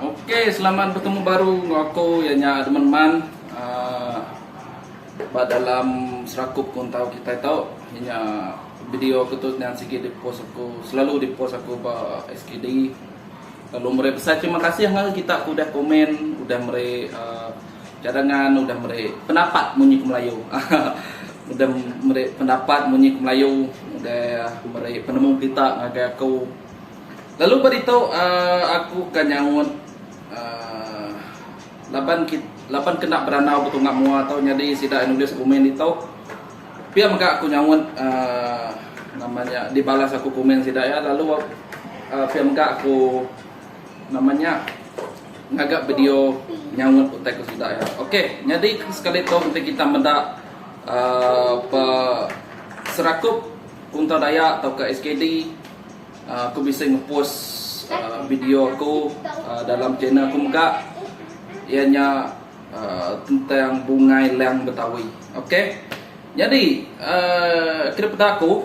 Ok selamat betemu baru enggau aku iya nya Edmund Man uhh ba dalam serakup ku entau kitai tu iya nya video aku tu nyaan sigi di post aku selalu di post aku ba SKD lalu meri besai terima kasih ngagai kita ke udah komen udah meri uhh cadangan udah meri pendapat munyi ke melayu haha udah meri pendapat munyi ke melayu udah meri penemu pita ngagai aku. Lalu ba ditu aku ka nyaut laban laban kena berandau betunga mua tu nyadi sida nulis komen ditu pia mega aku nyaut nama nya dibalas aku komen sida iya lalu pia mega aku nama nya ngaga video nyaut utai ku sida iya. Ok nyadi sekali tu enti kita meda aaa pe serakup Kuntau Dayak tauka SKD. Aku bisi ngepost video aku dalam channel aku mega iya nya tentang bungai lang betawi. Ok nyadi kena peda aku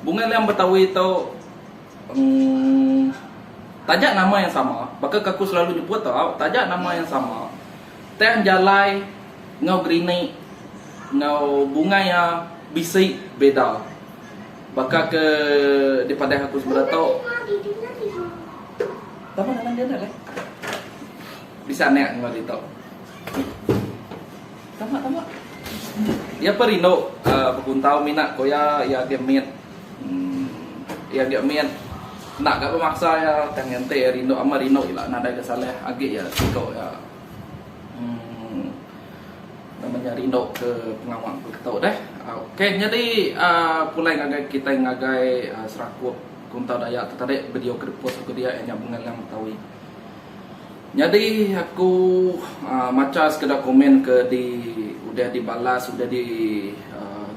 bungai lang betawi tu taja nama yang sama baka ke aku selalu nyebut tau taja nama yang sama tang jalai enggau gerinik enggau bungai iya bisi beda. Baka ke dipadah aku semeda tu. Tama nang dia enda leh. Bisi anak enggau ditu. Tama tama. Iya pun rindu uh, bekuntau mina ko iya iya agi mit. Hmm. Iya agi mit. Enda ga bemaksa iya tang ente iya rindu ama rindu ila nadai ke salah agi iya siko iya. Hmm. Nama nya rindu ke pengawa empu ke tu deh. Ok nyadi pulai ngagai kitai ngagai serakup Kuntau Dayak tu tadi video ke dipost aku dia iya nya Bunga Lang Betawi. Nyadi aku macha sekeda komen ke di udah di balas udah di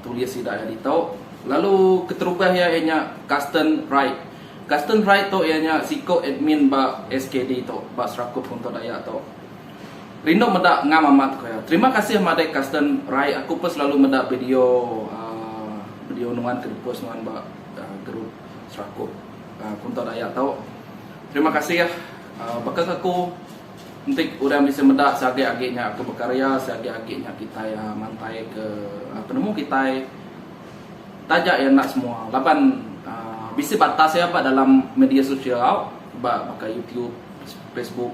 tulis sida iya ditu lalu keterubah iya iya nya Kasten Wright. Kasten Wright tu iya nya siku admin ba SKD tu ba serakup Kuntau Dayak tu. Rindu meda ngam amat ku iya. Terima kasih madik Kasten Rai aku pun selalu meda video video nuan ke dipost nuan ba group Serakup Kunta Dayak tu. Terima kasih baka ke aku enti orang bisi meda seagi agi nya aku bekarya seagi agi nya kitai mantai ke penemu kitai taja iya enda semua laban bisi batas iya ba dalam media sosial ba baka YouTube Facebook.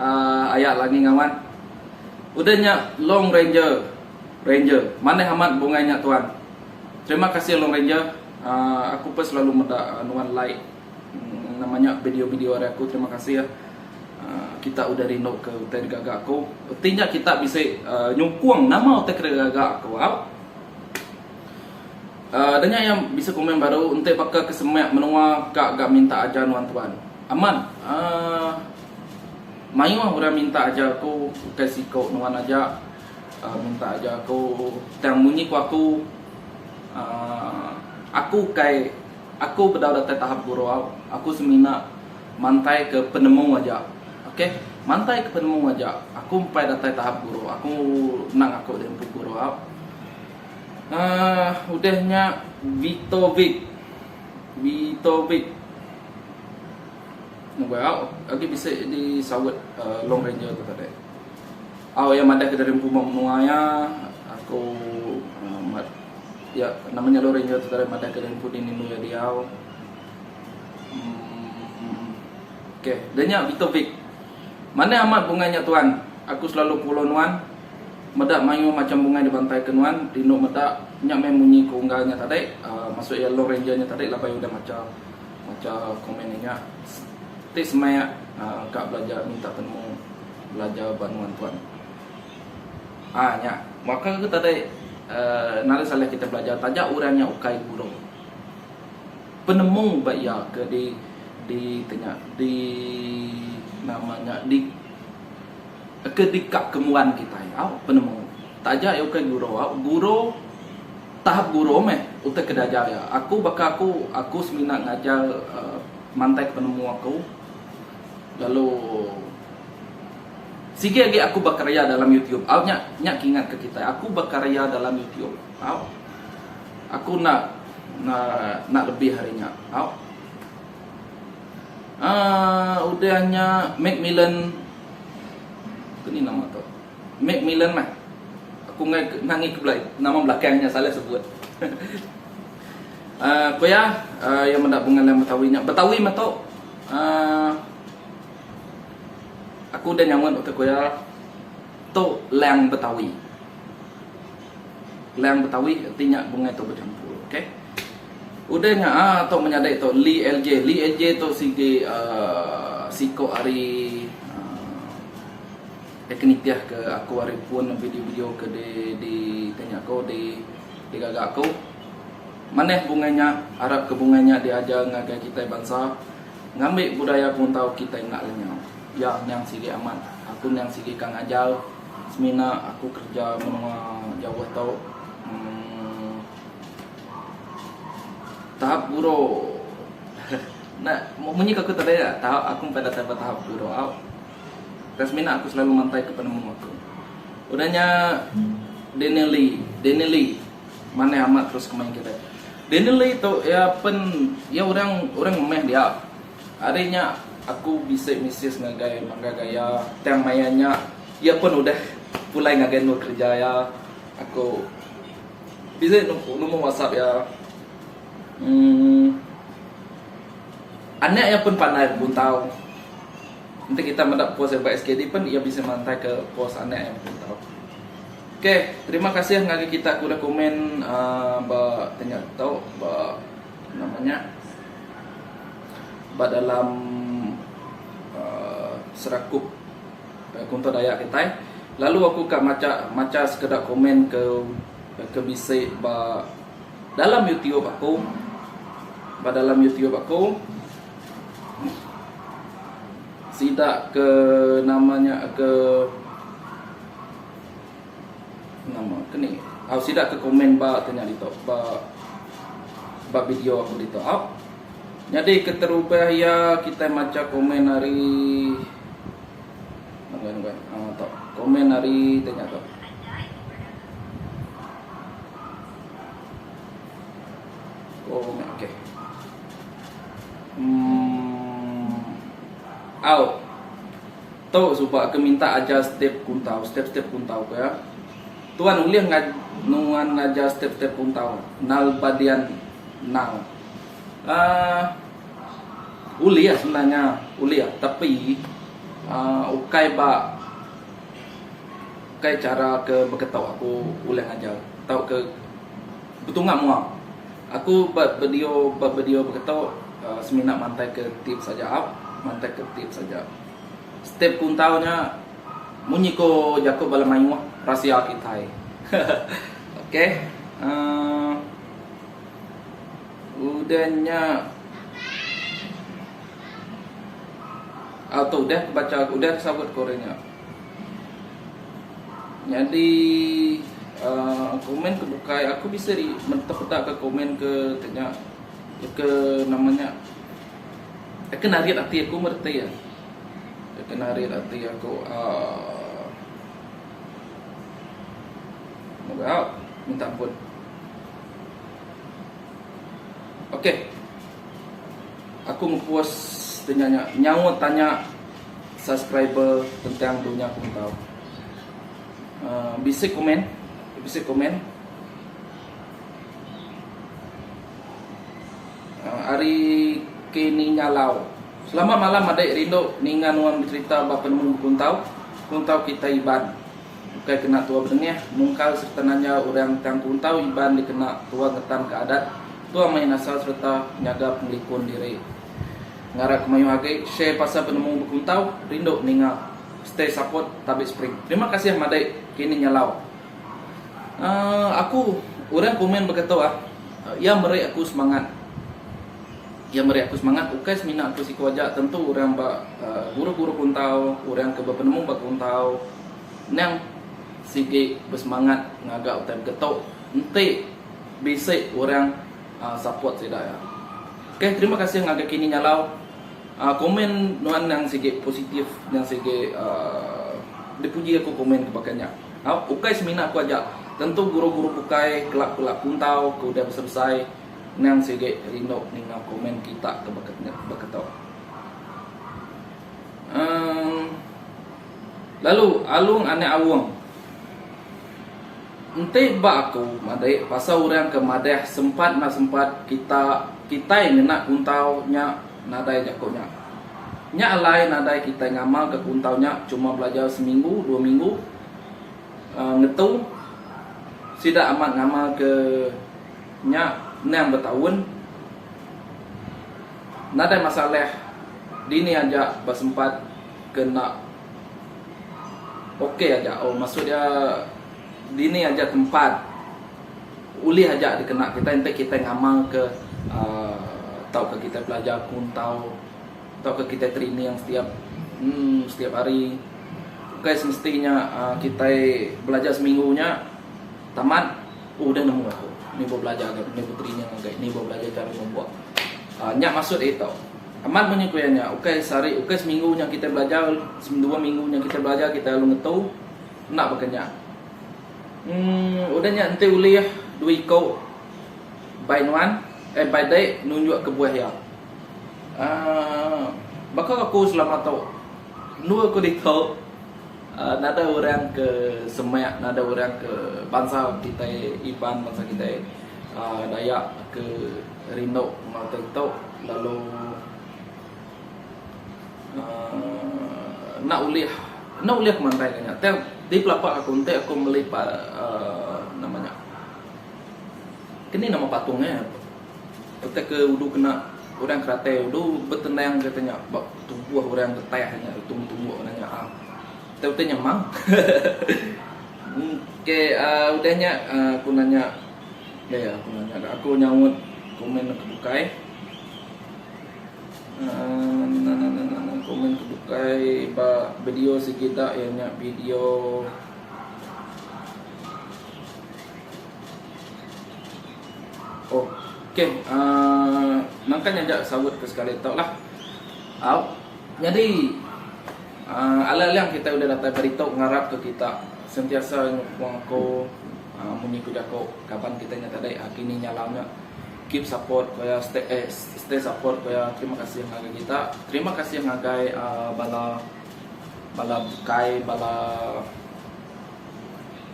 Aaa aya lagi ngawat. Udah nya long ranger ranger manah amat bungai nya tuan terima kasih long ranger aaa aku pun selalu meda nuan like nama nya video video ari aku terima kasih aaa kita udah rindu ke utai digaga aku reti nya kita bisi aaa nyukung nama utai ke digaga aku au aaa udah nya iya bisi komen baru enti baka ke semak menua ka ga minta ajar nuan tuan amat aaa. Mayuh orang minta ajar aku ukai siku nuan aja minta ajar aku tang munyi ku aku uhh aku ukai aku bedau datai tahap gurau aku semina mantai ke penemu aja ok mantai ke penemu aja aku empai datai tahap gurau aku nang aku dah empu gurau uhh udah nya Vitovic Vitovic. Mobile au agi bisi di saut long ranger tu tadi. Au iya madah ke dari empu uma menua iya aku mat iya nama nya long ranger tu tadi madah ke dari empu dini menua diau. Ok da nya Victor Vic. Manah amat bungai nya tuan. Aku selalu follow nuan. Meda mayuh macham bungai dibantai ke nuan. Rindu meda. Nya meh munyi ke unggal nya tadi. Masu iya long ranger nya tadi labai udah macha. Macha komen nya nya. Ti semaya ka belajar minta penemu belajar ba nuan tuan. Ah nya baka ke tadi nari salah kita belajar taja orang nya ukai guru. Penemu ba iya ke di di ti nya di nama nya di ke dika ke muan kitai au penemu. Taja iya ukai guru au guru. Tahap guru meh utai ke diajar iya. Aku baka aku, aku semina ngajar mantaika penemu aku lalu sigi agi aku bekarya dalam YouTube. Au nya nya ke ingatka kitai. Aku bekarya dalam YouTube. Au. Aku enda enda lebih ari nya. Au. Aaa udah nya McMillan ke ni nama tu. Mac Millan mah. Aku enggai ke nangi ke belai nama belakang nya salah sebut. uh, ko iya uh, iya meda pengalam Betawi nya. Betawi meto uh, aku udah nyaut baka ko iya to lang Betawi. Lang Betawi arti nya bungai to bercampur. Okey. Udah nya ah to menyadai to Li LJ. Li LJ to sigi uh, siko ari Dia ke nitih ke aku ari pun video-video ke di di tanya aku di di gaga aku. Manah bungai nya, arap ke bungai nya di ajar ngagai kitai bansa ngambi budaya penguntau kitai enda lenyau. Ya niang sigi amat, aku niang sigi ka ngajar semina aku kerja menua jauh tu. Emm tahap guru enda munyi ke aku tadi nya tahap aku empai datai ba tahap guru au. Ka semina aku selalu mantaika penemu aku. Udah nya Daniel Lee, Danny Lee manah amat terus kemai kitai. Danny Lee tu iya pen iya orang orang ngemeh dia. Ari nya aku bisi misis ngagai mangga gaya tang maya nya iya pun udah pulai ngagai endur kerja iya. Aku bisi number WhatsApp iya. Uhh anak iya pun pandai bebuntau. Enti kita meda post yang ba SKD pen ia bisi mantai ke post anak yang bepun tau. Okey, terima kasih ngagai kita ke udah komen uh, ba tanya tau ba namanya ba dalam uh, serakup uh, kunto Dayak kita. Lalu aku ka maca maca sekeda komen ke ke bisi ba dalam YouTube aku. Ba dalam YouTube aku Sida ke nama nya ke nama ke ni. Au sida ke komen ba ke nya ditu ba ba video aku ditu au. Nyadi keterubah iya kitai macha komen ari Nengah nengah ah tu. Komen ari tanya tu. Oh, okey. Umm au tu suba ke minta ajar step kuntau step step kuntau ke ya. Tuan ulih ngaj nuan ngajar step step kuntau nal ba dian nal. Aaa ulih sebenarnya ulih tapi aaa ukai ba ukai cara ke beketo aku ulih ngajar tauka betunga mua. Aku ba bedio ba bedio beketo semina mantai ke tips aja up mantai ke tips aja. Step kuntau nya munyi ko jako bala mayuh rasia kitai ok uhh udah nya auto udah ke bacha udah ke sabut ko nya. Nyadi komen ke bukai aku bisi ri peda ka komen ke nya ke nama nya ke narit ati aku meh reti iya ke narit ati aku aaa au minta ampun ok aku ngepost inya nya nyaut tanya Subscriber tentang dunya kuntau. Bisi komen. Bisi komen. Ari Kenny Nyalau. Selamat malam adik rindu ninga nuan becerita ba penemu bekuntau kuntau kitai Iban. Ukai kena tua bedengah mungkal sereta nanya orang tang kuntau Iban dikena tua ngetanka adat, tua main asal sereta nyaga pengelikun diri. Ngarap ke mayuh agi share pasal penemu bekuntau rindu ninga stay support tabik spring terima kasih madik kini nyalau uhh aku urang komen begitu ah iya meri aku semangat iya meri aku semangat ukai semina aku siku aja tentu urang ba guru guru kuntau urang ke bepenemu ba kuntau nang sigi besemangat ngaga utai begitu enti bisi urang Support sida ya. Okay terima kasih ngagai kini nyalau Komen nuan nyang sigi positif nyang sigi dipuji aku komen ke baka nya Hau ukai semina aku aja tentu guru guru bukai kelap kelap puntau ke udah besai besai nyang sigi rindu ninga komen kita ke baka nya baka tu uhh Lalu alung anak aung. Enti ba aku madik pasal orang ke madah sempat enda sempat kita kitai ngena kuntau nya nadai jaku nya. Nya alai nadai kitai ngamalka kuntau nya cuma belajar seminggu dua minggu uhh ngetu sida amat ngamalka nya endang betaun. Nadai masalah dini aja ba sempat ke enda. Ok aja oh maksud dia dini aja tempat ulih aja dikena kitai enti kitai ngamalka uhh tauka kitai belajar pun tau tauka kitai training setiap uhh setiap hari bukai semesti nya uhh kitai belajar seminggu nya tamat udah nemu aku nih belajar nih training nih belajar cara ngebuat uhh nya maksud aku ito. Amat munyi ku iya nya, ukai sehari, ukai seminggu nya kitai belajar, dua minggu nya kitai belajar, kitai alu ngetu. Enda baka nya. Emm udah nya enti ulih dua iku bai nuan, eh bai dek nunjuk kebuah iya. Aaa baka aku selama tu, endur aku ditu. Nadai orang ke semak nadai orang ke bansa kitai Iban bansa kitai Dayak ke rindu enggau teh tu lalu enda ulih enda ulih ke mantai ke nya tang ti pelapah aku enti aku meli nama nya keni nama patung nya utai ke udu kena orang keratai udu betenang kata nya ba. Tubuh orang betah nya lutung tumbuk kena nya ah. Kita utai nyemang. okay uh, udah nya uh, aku nanya ya yeah, aku nanya dah aku nyaut komen ke bukai. Uh, na, na, na, na, na, komen ke bukai ba video segi dak ya nya video Oh, okey. Uh, nangkan nyaja sawut ke sekali tu lah. Uh, jadi, uh, alang-alang kita udah datai berita ngarap ke kita sentiasa nyukung aku uh, munyi ku jaku kaban kita nya tadi uh, kini nya lah nya. Keep support kuya stay, eh, stay support kuya. Terima kasih ngagai kita. Terima kasih ngagai uh, bala bala bukai bala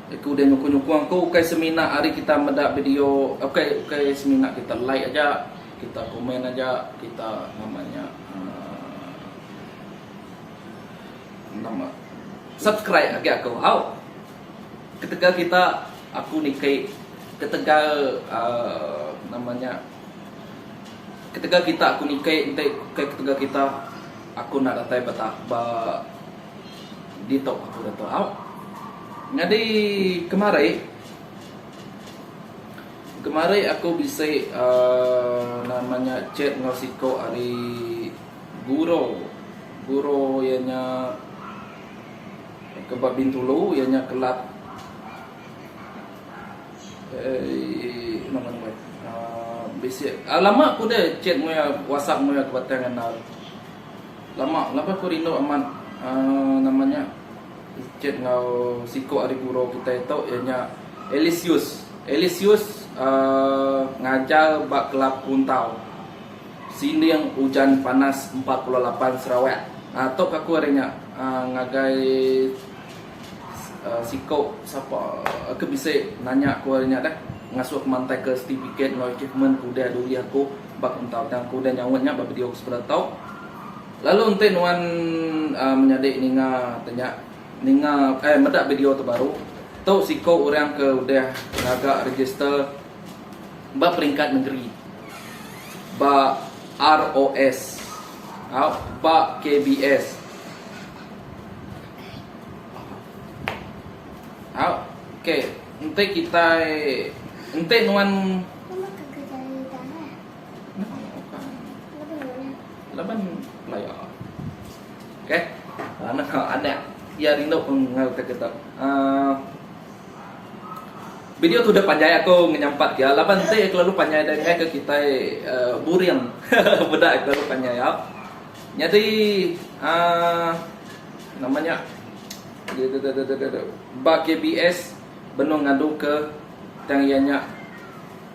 Aku udah nyukung nyukung tu ukai semina ari kita meda video ukai ukai semina kita like aja kita komen aja kita nama nya uhh nama subscribe agi aku hau ketegal kita aku niki ketegal uhh nama nya ketegal kita aku niki enti ukai ketegal kita aku enda datai ba ba. Ditu aku da tu au. Nyadi kemari kemari aku bisi uhh nama nya chat enggau siko ari guro guro iya nya ke ba bintulu iya nya kelab uhh nama nama uhh bisi lama ku deh chat ngoii whatsapp ngoii aku batang andau. Lama laban ku rindu amat uhh nama nya chat enggau siku ari guru kitai tu iya nya Elisius. Elisius uhh ngajar ba kelab Kuntau Sinding Ujan Panas empat puluh lapan Sarawak. Uhh tu ka ku ari nya uhh ngagai. Siko sapa ke bisi nanya ku ari nya deh ngasuh mantai ke certificate enggau achievement ke udah diulih aku ba kentau tang aku udah nyaut nya ba video ke sebedau tau. Lalu enti nuan uhh menyadi ninga tanya ninga uhh meda video tu baru tu siko orang ke udah ngaga register ba peringkat nengeri ba ROS au ba KBS. Okey enti kitai enti nuan laban laya okey anak anak iya rindu pun enggau kita kita uh, Video tu dah panjai aku ngenyampat dia laban enti kelalu panjai dia ngai ke kitai uh, buring. Beda kelalu panjai ya. Nyadi aaa nama nya ddddddd ba KBS benung ngadu ke tang iya nya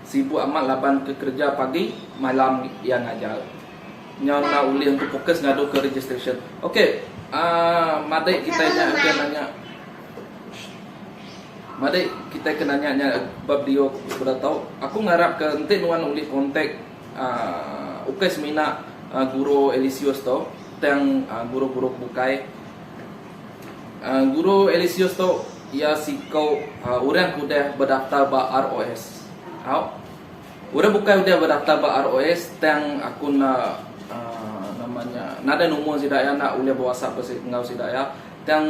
sibuk amat laban ke kereja pagi malam iya ngajar nyau enda ulih untuk fokus ngadu ke registration ok aaa madik kitai nya ke nanya madik kitai ke nanya nya ba video ku sida tau aku ngarap ke enti nuan ulih contact Ukai semina guru Elisius tu, tang guru-guru ke bukai. Guru Elisius tu iya siku orang ke udah bedaftar ba ROS. Au. Orang bukai udah bedaftar ba ROS tang aku enda nama nya nadai numur sida iya enda ulih beWhatsApp enggau sida iya. Tang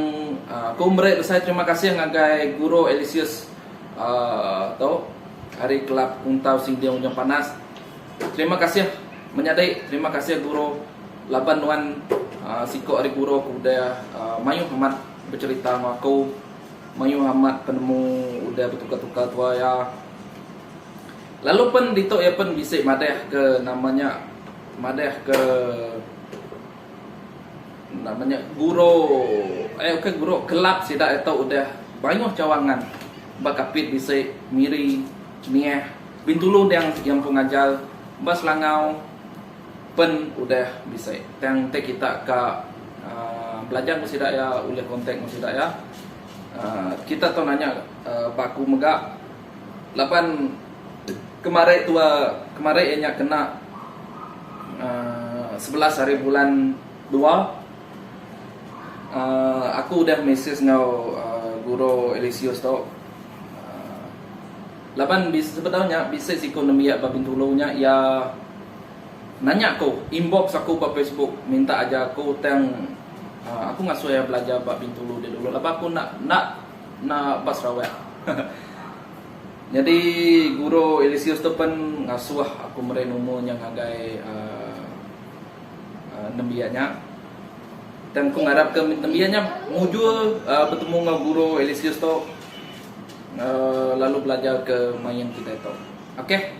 aku meri besai terima kasih ngagai guru Elisius tu. ari kelab Untau Sinding Ujung Panas. Terima kasih menyadi terima kasih guru laban nuan siku ari guru ke udah mayuh amat becerita enggau aku mayuh amat penemu udah betukar-tukar tua iya. Lalu pen ditu iya pen bisi madah ke nama nya madah ke. Nama nya guro eh ukai guro kelab sida ito udah mayuh cawangan ba kapit bisi Miri, Nieh, Bintulu endang iya empu ngajar ba Selangau pen udah bisi tang enti kita ka aaa belajar enggau sida iya ulih kontak enggau sida iya aaa kita tau nanya baku mega. Laban kemari tua kemari iya nya kena aaa sebelas ari bulan dua aaa aku udah mesej enggau aaa guru Alesius tu aaa laban sebedau nya bisi siko nembiak ba Bintulu nya iya nanya aku inbox aku ba Facebook minta ajar aku tang aku ngasuh iya belajar ba Bintulu dulu laban aku enda enda enda ba Sarawak. Nyadi guru Elisius tu pen ngasuh aku meri numu nya ngagai uhh nembiak nya. Tang aku ngarap ke nembiak nya mujur uhh betemu enggau guru Elisius tu uhh lalu belajar ke main kitai tu. Okay.